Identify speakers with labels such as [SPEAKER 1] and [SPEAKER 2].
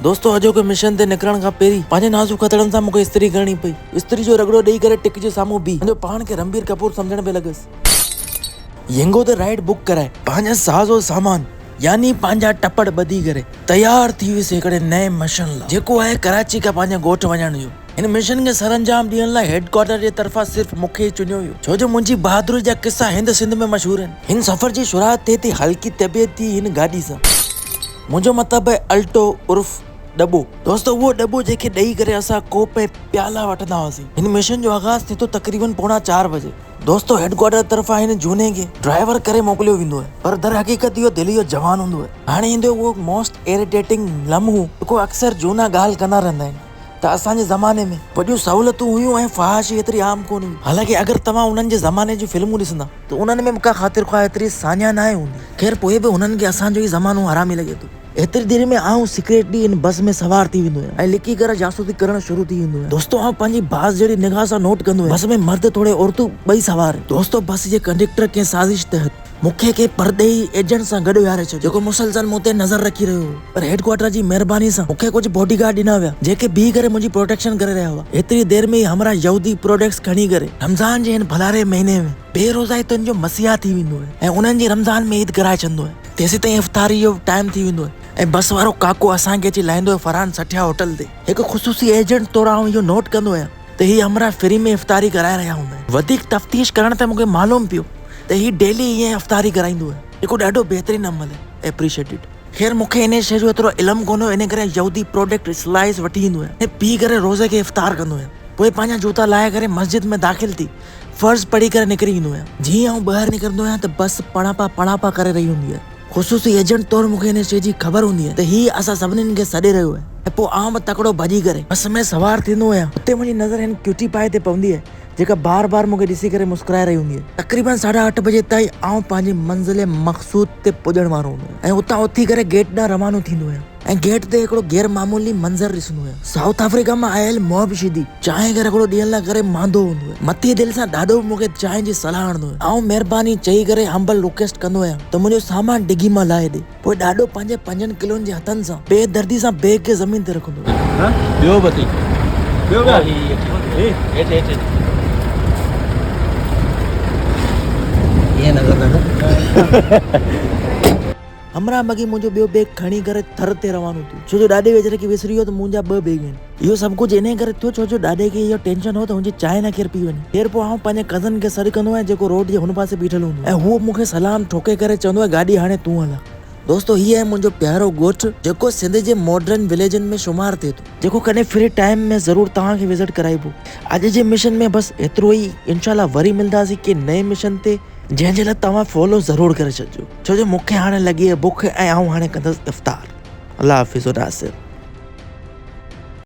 [SPEAKER 1] دوستو اڄوڪي مشن تي نڪرڻ کان پهرين پنهنجي نازڪ هٿڙن سان مونکي استري ڪرڻي پئي. استري جو رڳڙو ڏئي ڪري ٽڪ جي سامهون بيهي پنهنجو پاڻ کي رنبير ڪپور سمجهڻ پئي لڳس. ينگو تي رائيڊ بڪ ڪرائي پنهنجا ساز و سامان يعني پنهنجا ٽپڙ ٻڌي ڪري تيار ٿي ويس هڪڙي نئين مشن لا جيڪو آهي ڪراچي کان پنهنجي ڳوٺ وڃڻ جو. هن مشن کي سرانجام ڏيڻ لا هيڊ ڪوارٽر جي طرفان صرف مونکي ئي چنيو ويو ڇو جو منهنجي بهادري جا قصا هند سنڌ ۾ مشهور آهن. هن سفر جي شروعات ٿئي ٿي هلڪي طبيعت جي هن گاڏي سان. منهنجو مطلب آهي الٽو عرف ڏٻو. دوستو اهو ڏٻو جنهن کي ڏئي ڪري اسان ڪوپ ۽ پيالا وٺندا هئاسين. هن مشن جو آغاز ٿئي ٿو تقريبن پوڻا چار بجي. دوستو هيڊڪوارٽر طرفان هن جهوني کي ڊرائيور ڪري موڪليو ويندو آهي پر در حقيقت اهو دلي جو جوان هوندو آهي. هاڻي ايندو اهو موسٽ ايريٽيٽنگ لمحو جيڪو اڪثر جهونا ڳالهه ڪندا رهندا آهن. ته اسان جي زماني ۾ وڏيون سهولتون هيون ۽ فحاشي ايتري عام ڪونه هئي. حالانڪه اگر توهان انهن جي زماني جون فلمون ڏسندا ته انهن ۾ به ڪا خاطر خواه ايتري ساڃاهه ناهي هوندي. خير پوء به هنن کي اسان جو ئي زمانو حرامي لڳي ٿو. ايتري دير ۾ آئون سيڪريٽلي ان بس ۾ سوار ٿي ويندو هيم ۽ لڪي ڪري جاسوسي ڪرڻ شروع ٿي ويندو هيم. دوستو آئون پنهنجي باز جهڙي نگاهه سان نوٽ ڪندو هيم. بس ۾ مرد ٿوري عورتون ٻئي سوار هيون. دوستو بس جي ڪنڊيڪٽر ڪنهن سازش تحت مون کي ڪنهن پرڏيهي ايجنٽ سان گڏ ويهاري ڇڏيو، جيڪو مسلسل مون تي نظر رکي رهيو هو، پر هيڊ ڪوارٽر جي مهرباني سان مون کي ڪجهه باڊي گارڊ ڏنا ويا، جيڪي بيهي ڪري منهنجي پروٽيڪشن ڪري رهيا هئا. ايتري دير ۾ ئي همراهه يهودي پروڊڪٽس کڻي ڪري رمضان جي هن ڀلاري مهيني ۾ بي روزائي تن جو مسيحا ٿي ويندو آهي ۽ انهن جي رمضان ۾ عيد ڪرائي ڇڏندو آهي. تيسيتائين افطاري جو ٽائيم ٿي ويندو آهي ۽ بس وارو ڪاڪو اسان کي اچي لاهيندو آهي فرحان سٺيا هوٽل تي. هڪ خصوصي ايجنٽ طور آئون اهو نوٽ ڪندو آهيان. ته هي همراهه فري ۾ افطاري ڪرائي رهيا هوندا آهن. وڌيڪ تفتيش ڪرڻ تي مون کي معلوم پيو ته هي ڊيلي ائين افطاري ڪرائيندو آهي، جيڪو ڏاڍو بهترين عمل آهي. Appreciated. خير مون کي انهيء شيء جو ايترو علم ڪونه هو، انهيء ڪري يهودي پروڊڪٽ Slice وٺي ايندو هيم ۽ پي ڪري روزي کي افطار ڪندو هيم. پوء پنهنجا جوتا لاهي ڪري مسجد ۾ داخل ٿي فرض پڙهي ڪري نڪري ايندو هيم. جيئن ئي آئون ٻاهر نڪرندو آهيان ته بس پڻاپا پڻاپا ڪري رهي هوندي آهي. خصوصي ايجنٽ طور مون کي ان شيء جي خبر هوندي هئي ته هي اسان سڀني کي سڏي رهيو آهي ۽ پوء آئون به تڪڙو ڀڄي ڪري بس ۾ سوار ٿيندو هيان. اتي منهنجي نظر هن ڪيوٽي پائي تي پوندي آهي، جيڪا بار بار مون کي ڏسي ڪري مسڪرائي رهي هوندي آهي. تقريبن ساڍا اٺ بجي تائين آئون پنهنجي منزل مقصود تي پڄڻ وارو هوندو هيان ۽ اتان اٿي ڪري گيٽ ڏانهن روانو ٿيندو هيان. ۽ گيٽ تي هڪڙو غير معمولي منظر ڏسندو هيو. سائوٿ آفريڪا مان آيل محب شيدي، چانهه کي رڳڙو ڏيڻ لاء ڪري ماندو هوندو هيو. مٿي دل سان ڏاڏو به مون کي چانهه جي صلاح هڻندو هيو. آئون مهرباني چئي ڪري همبل رڪويسٽ ڪندو هيم ته منهنجو سامان ڊگهي مان لاهي ڏي. پوء ڏاڏو پنهنجي پنجن ڪلون جي هٿن سان بي دردي سان بيگ کي زمين تي رکندو هيو. ٻيو به اٿئي. ٻيو به آهي. هي هيٺ هيٺ هيٺ. ائين نه ڪر ڏاڏو. همراهه مگي منهنجو ٻيو بيگ کڻي ڪري ٿر تي روانو ٿيو ڇو جو ڏاڏي ويچاري کي وسري ويو ته منهنجا ٻه بيگ آهن. اهو سڀ ڪجهه انهيء ڪري ٿيو ڇو جو ڏاڏي کي اهو ٽينشن هو ته هن جي چانهه نه ڪير پي وڃي. خير پوء آئون پنهنجي ڪزن کي سڏ ڪندو هئس جيڪو روڊ جي هن پاسي بيٺل هوندو ۽ هو مون کي سلام ٺوڪي ڪري چوندو هو گاڏي هاڻي تون هلاء. دوستو هي آهي منهنجو پيارو ڳوٺ جيڪو سنڌ جي ماڊرن وليجن ۾ شمار ٿئي ٿو. جيڪو ڪڏهن فري ٽائيم ۾ ضرور توهان کي وزٽ ڪرائبو. اڄ جي مشن ۾ بس ايترو ئي انشاء الله وري ملنداسين ڪنهن نئين مشن تي. جنهن جي لاء توهان فالو ضرور ڪري ڇڏجو ڇو جو مونکي هاڻي لڳي آهي بک ۽ آئون هاڻي ڪندس افطار الله حافظ و ناصر.